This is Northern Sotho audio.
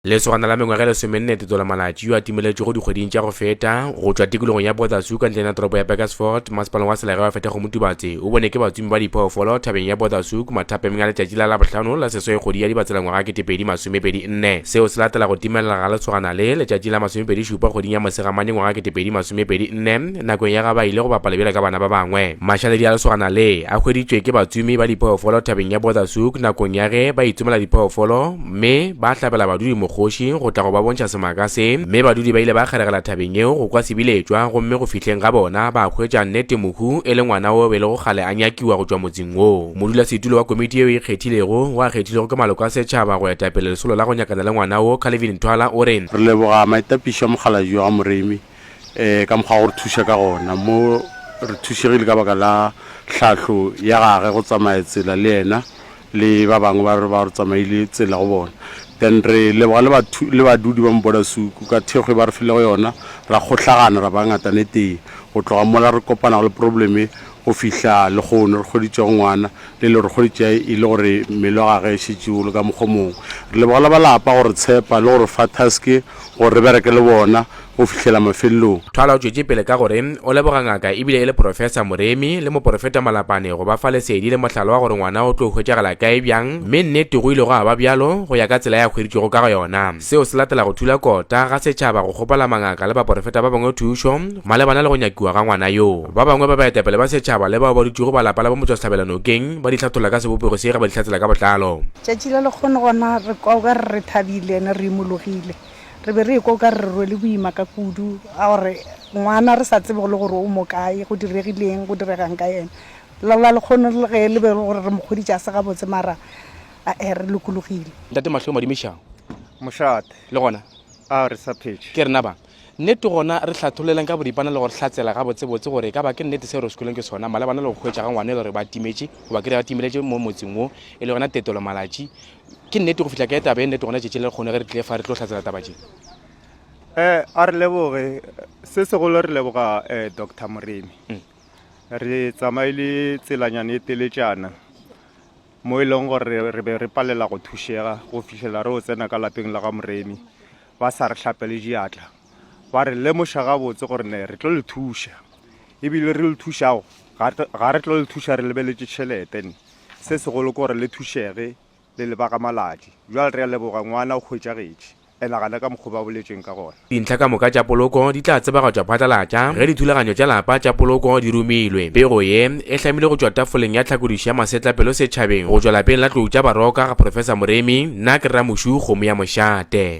Lesogana la mengwaga e lesomenne tetsolo malatši yo a timeletšwego dikgweding tša go feta go tšwa tikologong ya Bothasu ka ntleng ya toropo ya Burgersfort, masepaleng wa Selege wa Fethego Motubatse o bone ke batsumi ba diphoofolo thabeng ya Bothasu mathapeng a letšatši la Labohlano la seswai kgwedi ya Dibatsela ngwaga 2024. Seo se latela go timelela ga lesogana le letšatši la masomepedi šupa kgweding ya Mosegamane ngwaga 2024 nakong ya ga ba ile go bapala bjalo ka bana ba bangwe. Mašaledi a lesogana le a hweditšwe ke batsumi ba diphoofolo thabeng ya Bothasu nakong ya ge ba itsomela diphoofolo Mme ba hlabela badudi mokgoši go tla go ba bontšha semaka se, mme badudi ba ile ba kgeregela thabeng yeo go kwa sebiletšwa, gomme go fihleng ga bona ba hwetša nnete mohu e le ngwana wo be lego kgale a nyakiwa go tšwa motseng wo. Modulasetulo wa komiti yeo e ikgethilego, wo a kgethilwego ke maloko a setšhaba go etapele lesolo la go nyakana le ngwana wo, Calvin Thwala o re, Re leboga maitapišo a Mokgalabje wa ga Moremi um ka mokgwa wa go re thuša ka gona, mo re thušegile ka baka la tlhahlo ya gage go tsamaya tsela le yena le ba bangwe ba re ba re tsamaile tsela go bona. Then re leboga le bathu le badudi ba Mobodasuku ka thekgwe ba re filego yona, ra kgohlagana ra ba ngatanetee. Go tloga mola re kopanago le problem e go fihla lehono re hweditšego ngwana, le le re hweditša e le gore mmele wa gage e šetše o le ka mokgwa o mongwe. Re leboga le ba lapa go re tshepa le go re fa task gore re bereke le bona. go fihlela mafelelong. Thwala o tšwetše pele ka gore o leboga ngaka e bile e le Profesa Moremi le moporofeta Malapane go ba fa lesedi le mohlala wa gore ngwana o tlo hwetšagala kae bjang mme nnete go ile gwa ba bjalo go ya ka tsela ya hweditšwego ka go yona. Seo se latela go thula kota ga setšhaba go kgopela mangaka le baporofeta ba bangwe thušo malebana le go nyakiwa ga ngwana yo. Ba bangwe ba baetapele ba setšhaba le bao ba dutšego ba lapa la bo Motswasehlabela nokeng ba di hlatholla ka sebopego se ge ba di hlatsela ka botlalo. Tšatši le lekgono gona re kwa o ka re re thabile and re imologile. Re be re ekwa o ka re re rwele boima ka kudu, a gore, Ngwana, re sa tsebe go le gore o mo kae, go diregile eng, go direga'ng ka yena? Laola lekgono le ge e le be e le gore re mo kgodiša a se gabotse, mara a-e, re lokologile. Ntate Mahlo Madimišago. Mošate. Le gona? A re sa phetše. Ke rena bang? Nnete gona re hlatholeleng ka boripana le go hlatsela gabotsebotse gore e ka ba ke nnete seo re skwelweng ke sona malebana le go hwetša ga ngwana e le gore ba timetše goba ke re ba timeletše mo motseng wo e le yona Tetelo Malatši Ke nnete go fihla kae taba e nnete gona tšetšing le lekgono ge re tlile fa re tlo hlatsela taba tše? Eh, a re leboge. Se segolo re leboga eh, Doctor Moremi. Mm. Re tsamaile tselanyane e teletšana mo e leng gore re be re palela go thušega go fihlela re o tsena ka lapeng la ga Moremi ba sa re hlapele diatla ba re lemoša gabotse gore ne re tlo le thuša ebile re le thušago ga re tlo le thuša re lebeletše tšhelete ne Se segolo ke gore le thušege le le ba ga Maladi. Bjale re a leboga, ngwana o hwetšagetše. E nagana ka mokgo ba boletšeng ka gona. Dintlha ka moka tša poloko di tla tsebagatšwa phatlalatša ge dithulaganyo tša lapa tša poloko di romilwe. Pego ye e hlamilwe go tšwa tafoleng ya tlhakodišo ya masetlapelo setšhabeng go tšwa lapeng la tlou tša baroka ga Professor Moremi, nna ke Rramošu kgomo ya mošate.